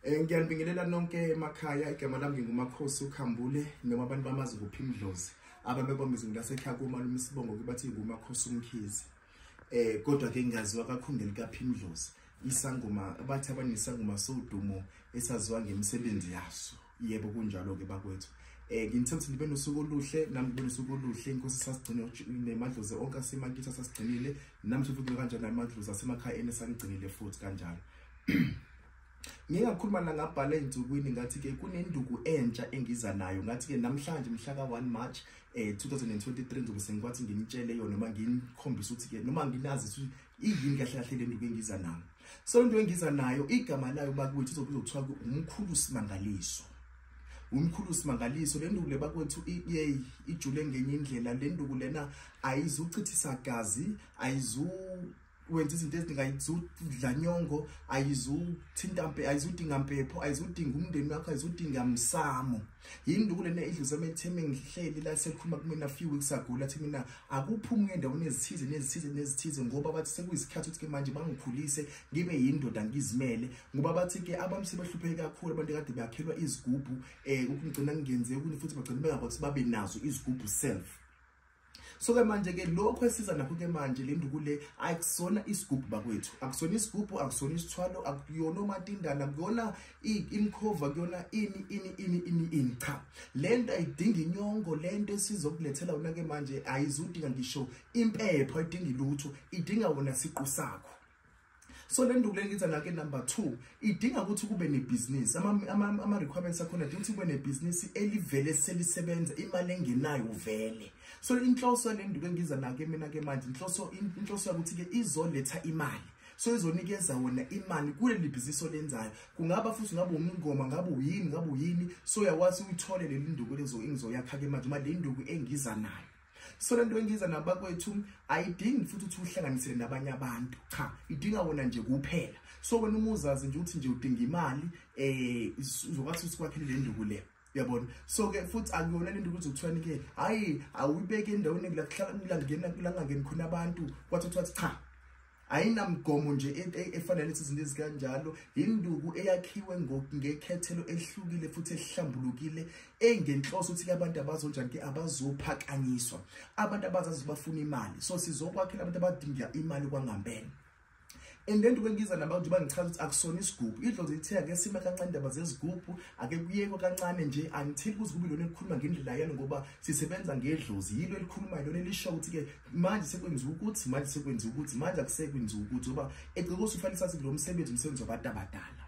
Eh ngiyanibingelela nonke emakhaya igama lami ngingumakhosi ukhambule noma abantu bamazi kuphi imdlozi ababebomba izinto lasekhaya kuma lumisibongo kubathi ngumakhosi umkhizi eh kodwa ke ngiyaziwa kakhulu ngelikaphi imdlozi isangoma bathi abanisangoma sodumo esaziwa ngemisebenzi yaso yebo kunjalo-ke bakwethu um nginithanda ukuthi nibe nosuku oluhle nami ngibe nosuku oluhle inkosi sasigcine nemadlozi onke asemakithi asasigcinile nami futhi kube kanjani amadlozi asemakhaya eni esanigcinile futhi kanjalo ngike ngakhuluma la ngabhala ey'nsukwini ngathi-ke kunenduku entsha engiza nayo ngathi-ke namhlanje mhla ka-one march um eh, 2023 ngizobe sengikwathi nginitshele yona noma nginikhombise ukuthi-ke noma nginazise ukuthi iyini kahle kahle le nduku engiza nayo so into engiza nayo igama layo bakwethu izobizwa kuthiwa umkhulu simangaliso umkhulu simangaliso le nduku le bakwethu yeyi ijule ngenye indlela le nduku lena ayizuchithisa gazi ayizu wenza izinto eziningi ayizudla nyongo ayizuthinta ayizudinga mpepho ayizudinga umndeni wakho ayizudinga msamo yinduku lena idluze emetheme ngihleli la selikhuluma kumina few weeks ago lathi mina akuphumi endaweni ezithize nezithize nezithize ngoba bathi sekuyisikhathi ukuthi ke manje bangikhulise ngibe yindoda ngizimele ngoba bathi ke abantu sebehlupheke kakhulu abantu kade bakhelwa izigubhu eh ukungcina ngingenze ukuthi futhi bagcina bengakwazi babe nazo izigubhu self so ke manje ke lokho esiza nakho ke manje le nduku le akusona isigubhu bakwethu akusona isigubhu akusona isithwalo akuyona umatindana kuyona imkhova kuyona ini ini ini ini ini cha le nto ayidingi inyongo le nto esizokulethela wona ke manje ayizudinga ngisho impepho ayidingi lutho idinga wona siqu sakho so le nduku lengiza ngake number 2 idinga ukuthi kube nebhizinisi ama requirements akhona idinga ukuthi kube nebhizinisi elivele selisebenza imali engenayo vele so inhloso le nduku engiza nake mina ke manje inhloso inhloso ukuthi ke izoletha imali so izonikeza wona imali kuleli bhizinisi olenzayo kungaba futhi ngabe umngoma ngabe uyini ngabe uyini so uyakwazi uyithole leli nduku lezo engizoyakha ke manje uma le nduku engiza nayo so le nto engiza nabakwethu ayidingi futhi ukuthi uhlanganisele nabanye abantu cha idinga wona nje kuphela so wena uma uzazi nje ukuthi nje udinga imali um uzokwazi ukuthi kwakhele le nduku le uyabona so-ke futhi akuyona le nto ukuthi kuthiwani-ke hhayi awuyibeke endaweni langangeni khona abantu kwathi kuthiwa cha ayinamgomo nje e, e, efanele ithi izinto ezikanjalo yinduku eyakhiwe ngekhethelo elihlukile futhi elihlambulukile engenhloso ukuthi abantu abazonjani ke abazophakanyiswa abantu abazazi bafuna imali so sizokwakhela abantu abadinga imali kwangambene and then kwengiza naba nje bangichaza ukuthi akusona isigubhu idlozi lithe ake sima kancane indaba zezigubhu ake kuyekwe kancane nje angitheli kuzigubu lona elikhuluma ngendlela yalo ngoba sisebenza ngedlozi yilo elikhulumayo lona elisho ukuthi-ke manje sekwenziwa ukuthi manje sekwenziwa ukuthi manje akusekwenziwa ukuthi ngoba egcike usufanele sathi kulo msebenzi umsebenzi wabantu abadala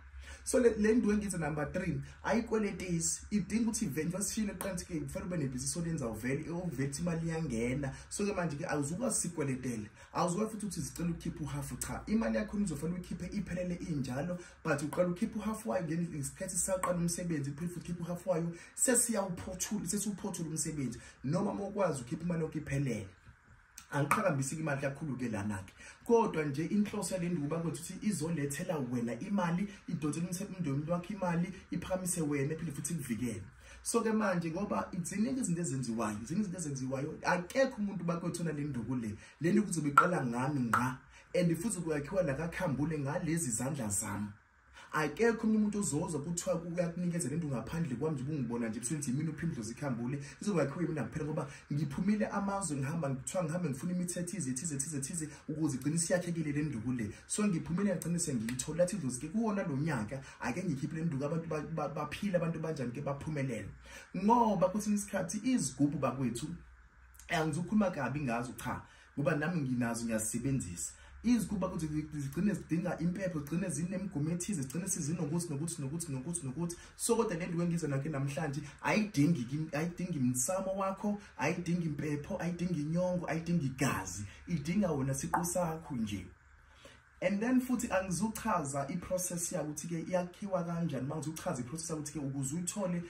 so le nto engithi number three ayikweletisi idinga ukuthi ivent basishile qanti-ke kufanele ube nebhizinisi olenza uvele okuvethi imali iyangena so-ke manje-ke awuzukwazi sikweletele awuzukwazi futhi ukuthi zicela ukhiphe uhafu cha imali yakhona uzofanele uyikhiphe iphelele injalo but uqala ukhiphe uhafu wayo ngesikhathi sisaqala umsebenzi phinde futhi ukhiphe uhafu wayo sesiyawuphothula sesiwuphothula umsebenzi noma mokwazi ukhipha imali yonke iphelele angiqhakambisiki imali kakhulu-ke lana-ke kodwa nje inhloso yale nduba kwethu ukuthi izolethela wena imali idonse umsebenzi womntu wakho imali iphakamise wena ephinde futhi ikuvikele so ke manje ngoba ziningi izinto ezenziwayo ziningi izinto ezenziwayo akekho umuntu bakwethona le nduku le le nduku zobe iqala ngami ngqa and futhi kuyakhiwa nakakhambule ngalezi zandla zami akekho omunye umuntu ozoza kuthiwa uyakunikeza lento ngaphandle kwami nje ubungibona nje busenzi yimini uphimdlo zikhambule izobakhiwa yimina kuphela ngoba ngiphumile amazwe ngihamba ngithiwa ngihambe ngifuna imithetho ize thize thize thize ukuze igcine siyakhekile le nduku le so ngiphumile ngagcine sengiyithola athi idlozi ke kuwona lo nyaka ake ngikhiphe le nduku abantu baphile abantu banjani ke baphumelele ngoba kwesinye isikhathi izigubhu bakwethu angizukhuluma kabi ngazo cha ngoba nami nginazo ngiyazisebenzisa izikuba ukuthi zigcine zidinga impepho zigcine zinemgomo ethize zigcine sizinokuthi nokuthi nokuthi nokuthi nokuthi so kodwa le nto wengiza nakhe namhlanje ayidingi ayidingi msamo wakho ayidingi impepho ayidingi inyongo ayidingi igazi idinga wona siqu sakho nje And then futhi angizuchaza iprocess yakho ukuthi ke iyakhiwa kanjani uma ngizuchaza iprocess yakho ukuthi ke ukuze uthole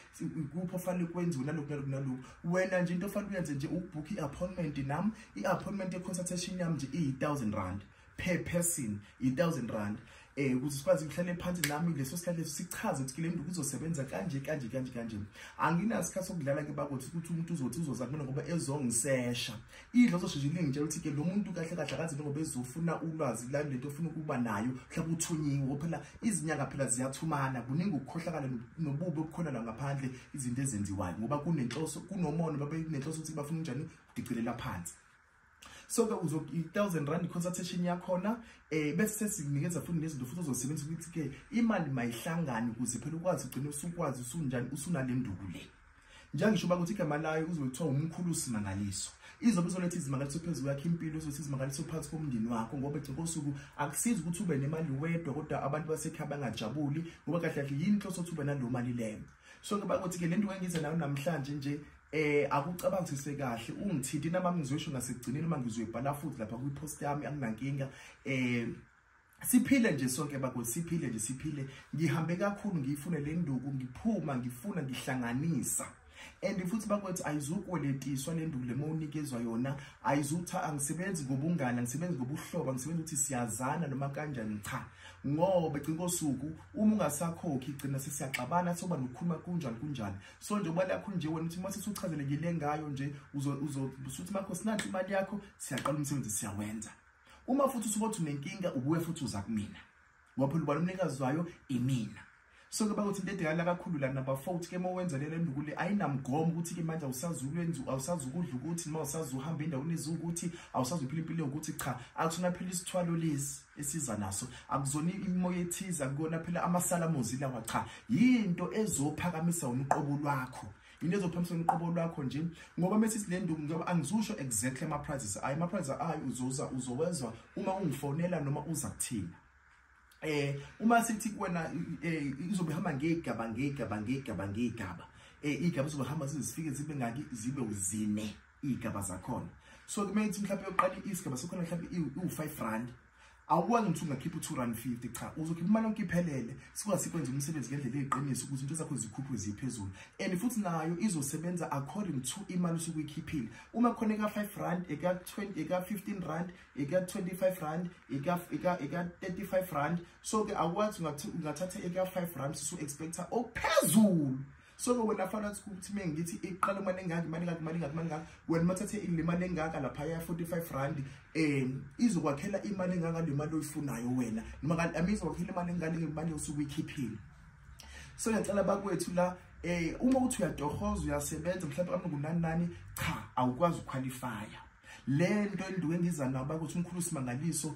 kuphi ofanele kwenziwe nalokhu nalokhu nalokhu wena nje into ofanele uyenze nje ukubhukha i-appointment nami i-appointment ye-consultation yami nje iyi-thousand rand per person yi-thousand rand eh ukuthi sikwazi ukuhlale phansi nami leso sikhathi leso sichaze ukuthi le nto kuzosebenza kanje kanje kanje kanje anginasikhathi sokudlala ke bakothi ukuthi umuntu uzothi uzoza kumina ngoba ezongisesha idlozo sheshe lingitshela ukuthi ke lo muntu kahle kahle akazi njengoba ezofuna ulwazi lani lento ofuna ukuba nayo mhlawumbe uthunyiwe phela izinyanga phela ziyathumana kuningi ukukhohlakala nobubi obukhona la ngaphandle izinto ezenziwayo ngoba kunenhloso kunomono babe kunenhloso ukuthi bafuna unjani udicelela phansi so ke uzo i-1000 rand consultation yakhona eh bese sesinikeza futhi nezinto futhi ozosebenzisa ukuthi ke imali mayihlangane ukuze phela ukwazi ugcine usukwazi usunjani usunale nduku le njengisho uba ukuthi igama layo kuzobe kuthiwa umkhulu simangaliso izobe izoletha izimangaliso phezu kwakho impilo izoletha izimangaliso phansi komndeni wakho ngoba egcina kosuku akusizi ukuthi ube nemali wedwa kodwa abantu basekhaya bangajabuli ngoba kahle kahle yini inhloso ukuthi ube naleyo mali leyo so ke bakuthi-ke le nto kangize nayo namhlanje nje eh akucabangisise kahle ungithinti nami ngizoyisho ngasekugcineni uma ngizoyibhala futhi lapha kwi-post yami anginankinga eh siphile nje sonke bakho siphile nje siphile ngihambe kakhulu ngiyifune le nduku ngiphuma ngifuna ngihlanganisa and futhi bakwethu ayizukweletishwa le nduku lema unikezwa yona ayizutha angisebenzi ngobungane angisebenzi ngobuhlobo angisebenzi ukuthi siyazana noma kanjani cha ngoba gcina kosuku uma ungasakhokhi gcina sesiyaxabana soba nokukhuluma kunjani kunjani so nje ubali yakho nje wena ukuthi uma sesuchazelekile ngayo nje uzosuthi makho sinanti imali yakho siyaqala umsebenzi siyawenza uma futhi usubothi unenkinga ubuye futhi uza kumina ngoba phela ubani umnikazi wayo imina so ke bakuthi into edekala kakhulu la number 4 ukuthi ke uma wenza lelo ndukule ayinamgomo ukuthi ke manje awusazukwenza awusazukudla ukuthi noma usazuhamba endaweni ezukuthi awusazuphila impilo ukuthi cha akuthona phela isithwalo lesi esiza naso akuzona imoya ethiza kuyona phela amasalamozi lawa cha yinto ezophakamisa umqobo lwakho yini ezophambisa uqobo lwakho nje ngoba mese silenduku ngoba angizusho exactly ama prizes ayi ama prizes ayi uzoza uzowezwa uma ungifonela noma uza kuthina eh uma sithi kuwena eh, izobe hamba ngegaba ngegaba ngegaba ngegaba eh igaba izobe hamba sizifike zibe ngaki zibe uzine igaba zakhona so kumele ukuthi mhlawumbe uqale isigaba sokhona mhlawumbe iwu-5 rand awukwazi ukuthi ungakhipha u-two rand fifty cha uzokhipha imali yonke iphelele sikwazi sikwenza umsebenzi ngendlela eyiqiniso ukuthi into zakho zikhuphwe ziphezulu and futhi nayo izosebenza according to imali osuke uyikhiphile uma khona eka-five rand eka-fifteen rand eka-twenty-five rand eka-thirty-five rand so-ke awukwazi ungathatha eka-five rand sisu-expecta okuphezulu so ke wena fana ukuthi ukuthi mina ngithi iqala imali engaka imali engaka imali engaka imali engaka wena mathathe le mali engaka lapha ya 45 rand um izokwakhela imali engaka le mali oyifunayo wena noma kanti ami izokwakhela imali engaka le mali osuke uyikhiphile so ngiyacela bakwethu la eh uma uthi uyadohoza uyasebenza mhlawumbe kambe kunani nani cha awukwazi ukuqualifya le nto enduke ngiza nabo ukuthi umkhulu simangaliso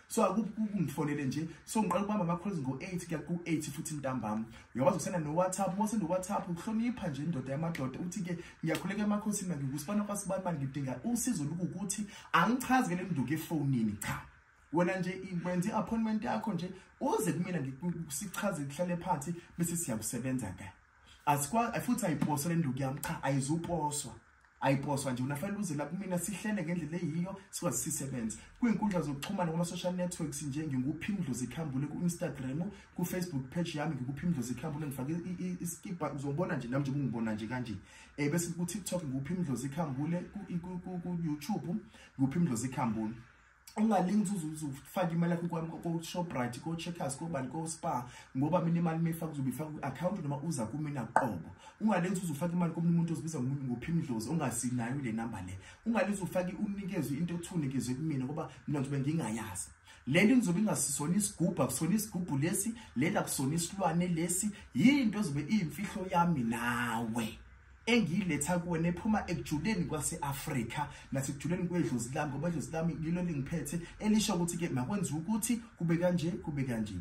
so akungifonele nje so ngiqala ukubamba ama-calls ngo-eight kuya ku-eight futhi ntambama uyakwazi ukusenda no-whatsapp uma usendo-whatsapp ukuhlonipha nje indoda yamadoda uthi-ke ngiyakhuleka emakhosini mangikusibana kwasibani mani ngidinga usizo lukukuthi angichazi ke le nduku efonini cha wena nje wenza i-appointment yakho nje uze kumina sichaze kuhlale phansi bese siyakusebenza kahle asikwazi futhi ayiposwa le nduku yami cha ayizuposwa ayiposwa nje unafanele uze la kumina sihlele ngendlela eyiyo sikwazi sisebenze kwinkundla zokuxhumana kuma-social networks nje nginguphi imdlozi ikhambule ku-instagram kufacebook page yami ngikuphi imdlozi ikhambule ngifake iskibha uzobona nje nami nje kungibona nje kanje um bese ku-tiktok ngikuphi imdlozi ikhambule ku-youtube ngikuphi imdlozi ikhambule ungalingi uzufake imali yakho kwami ko-shoprite ko-checkers kobani ko-spa ngoba mina imali uma ifaka uzobe ifaka kwi-akhawunti noma uza kumina qobo ungalenzi uzufake imali komunye umuntu ozibiza ngophimdlozi ongasinayo le namba le ungalenzi ufake unikezwe into othunikezwe kumina ngoba mina ngizobe ngingayazi le nto ngizobe ingasisona isigubhu akusona isigubhu lesi lena akusona isilwane lesi yinto ezobe iyimfihlo yami nawe engiyiletha kuwena ephuma ekujuleni kwase-afrika nasekujuleni kwedlozi lami ngoba idlozi lami yilo lingiphethe elisho ukuthi-ke makwenziwa ukuthi kube kanje kube kanje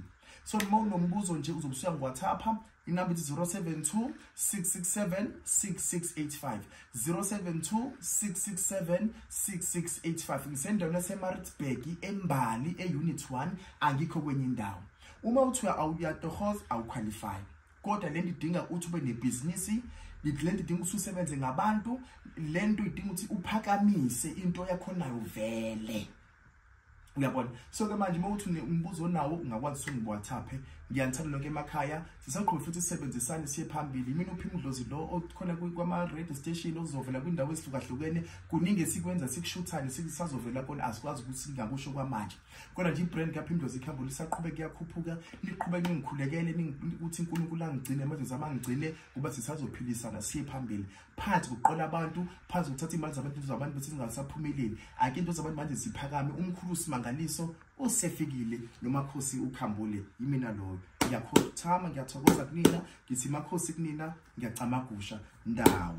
so noma unombuzo nje uzobusuya ngiwathapha inamba ithi 072 667 6685 072 667 6685 ngisendaweni yasemaritzburg embali e-unit 1 angikho kwenye indawo uma uthi uyatohoza awukhwalifyi kodwa lento idinga ukuthi ube nebhizinisi lento idinga ukuthi usebenze ngabantu lento idinga ukuthi uphakamise into yakhonayo vele uyabona so ke manje uma uthi umbuzo onawo ungakwazi ukuthi ungiwhatsappe ngiyanithanda nonke emakhaya sisakhulu futhi sisebenzisane siye phambili mina uphi umdlozi lo okhona kwama-radio station okuzovela kwindawo ezihlukahlukene kuningi esikwenza sikushuthane sisazovela kona asikwazi ukuthi singakusho kwamanje kodwa nje ibrand kaphimdozi ikhambo lisaqhube kuyakhuphuka niqhube ningikhulekele ukuthi unkulunkulu angigcine amadozi ami angigcine kuba sisazophilisana siye phambili phansi kuqola abantu phansi kuthatha iy'mali zabantu into zabantu bethi zingasaphumeleli ake into zabantu manje ziphakame umkhulu usimangaliso usefikile nomakhosi ukhambule yimina loyo ngiyakhothama ngiyathokoza kunina ngithi makhosi kunina ngiyacamagusha ndawo